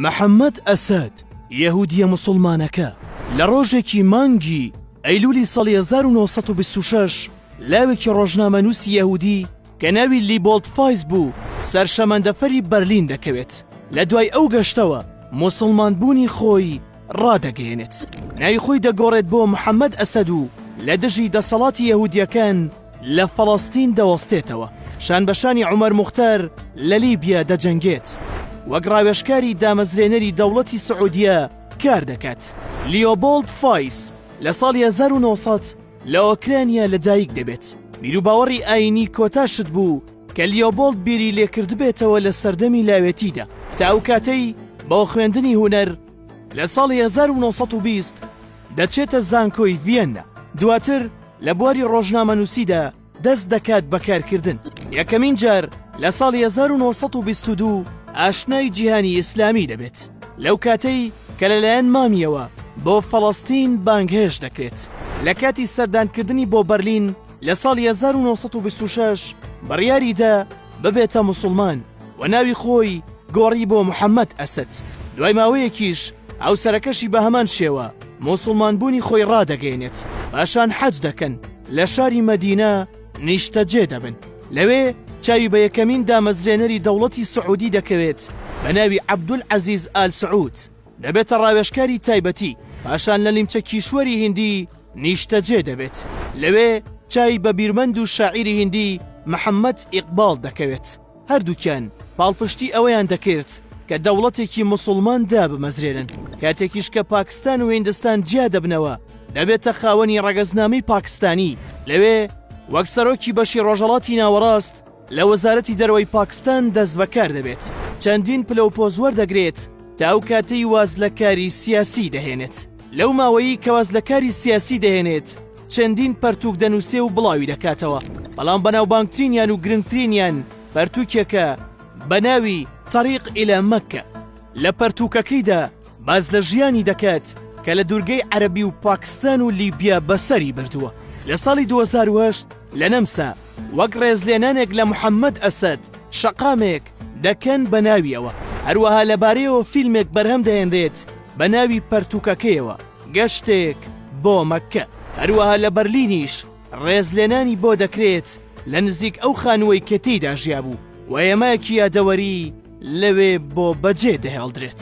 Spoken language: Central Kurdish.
محەممەد ئەسەد، یەهوودییە موسڵمانەکە، لە ڕۆژێکی مانگی ئەیلوولی ساڵی هەزار و نۆ سەد و بیست و شەش لاوێکی ڕۆژنامەنووسی یەهوودی کە ناوی لیبۆڵد فایس بوو، سەر شەمەندەفەری بەرلین دەکەوێت. لە دوای ئەو گەشتەوە موسڵمانبوونی خۆی ڕادەگەیەنێت. ناوی خۆی دەگۆڕێت بۆ محەممەد ئەسەد و لە دژی دەسەڵاتی یەهوودییەکان لە فەڵەستین دەوەستێتەوە، شانبەشانی عومەر موختەر لە لیبیا دەجەنگێت، وەک ڕاوێژکاری دامەزرێنەری دەوڵەتی سعودیە کار دەکات، لیۆبۆڵد فایس لە ساڵی هەزار و نۆ سەد لە ئۆکرانیا لەدایک دەبێت، بیروباوەڕی ئایینی کۆتا شت بوو کە لیۆبۆڵد بیری لێکردبێتەوە لە سەردەمی لاوێتیدا تا ئەو کاتەی بۆ خوێندنی هونەر لە ساڵی هەزار و نۆ سەد و بیست دەچێتە زانکۆی ڤیەننا، دواتر لە بواری ڕۆژنامەنووسیدا دەست دەکات بە کارکردن. یەکەمین جار لە ساڵی 1922 ئاشنای جیهانی ئیسلامی دەبێت لەو کاتەی کە لەلایەن مامیەوە بۆ فەڵەستین بانگهێش دەکرێت لە کاتی سەردانکردنی بۆ بەرلین لە ساڵی 1926 بڕیاریدا ببێتە موسڵمان و ناوی خۆی گۆڕی بۆ محەمەد ئەسەد، دوای ماوەیەکیش هاوسەرەکەشی بە هەمان شێوە موسڵمان بوونی خۆی ڕادەگەیەنێت، پاشان حەج دەکەن لە شاری مەدینە نیشتەجێ دەبن، لەوێ چاوی بە یەکەمین دامەزرێنەری دەوڵەتی سعودی دەکەوێت بە ناوی عەبدول عەزیز ئال سعود، دەبێتە ڕاوێژکاری تایبەتی، پاشان لە نیمچە کیشوەری هیندی نیشتەجێ دەبێت، لەوێ چاوی بە بیرمەند و شاعیری هیندی محەممەد ئیقباڵ دەکەوێت، هەردووکیان پاڵپشتی ئەوەیان دەکرد کە دەوڵەتێکی موسڵمان دابمەزرێنن، کاتێکیش کە پاکستان و هیندستان جیا دەبنەوە، دەبێتە خاوەنی ڕەگەزنامەی پاکستانی، لەوێ وەک سەرۆکی بەشی ڕۆژهەڵاتی ناوەڕاست، لە وەزارەتی دەرەوەی پاکستان دەستبەکار دەبێت، چەندین پلە و پۆز وەردەگرێت تا ئەو کاتەی واز لە کاری سیاسی دەهێنێت. لەو ماوەیەی کە واز لە کاری سیاسی دەهێنێت، چەندین پەرتووک دەنووسێ و بڵاوی دەکاتەوە، بەڵام بەناوبانگترینیان و گرنگترینیان پەرتووکێکە بە ناوی طریق الی مکە. لە پەرتووکەکەیدا باس لە ژیانی دەکات کە لە دوورگەی عەرەبی و پاکستان و لیبیا بەسەری بردووە. لە ساڵی دوو هەزار و هەشت، لە نەمسا وەک ڕێزلێنانێک لە محەممەد ئەسەد، شەقامێک، دەکەن بە ناویەوە، هەروەها لەبارەیەوە فیلمێک بەرهەم دەهێنرێت بە ناوی پەرتووکەکەیەوە، گەشتێک بۆ مەککە. هەروەها لە بەرلینیش ڕێزلێنانی بۆ دەکرێت لە نزیک ئەو خانووەی کە تێیدا ژیابوو و هێمایەکی یادەوەری لەوێ بۆ بەجێ دەهێڵدرێت.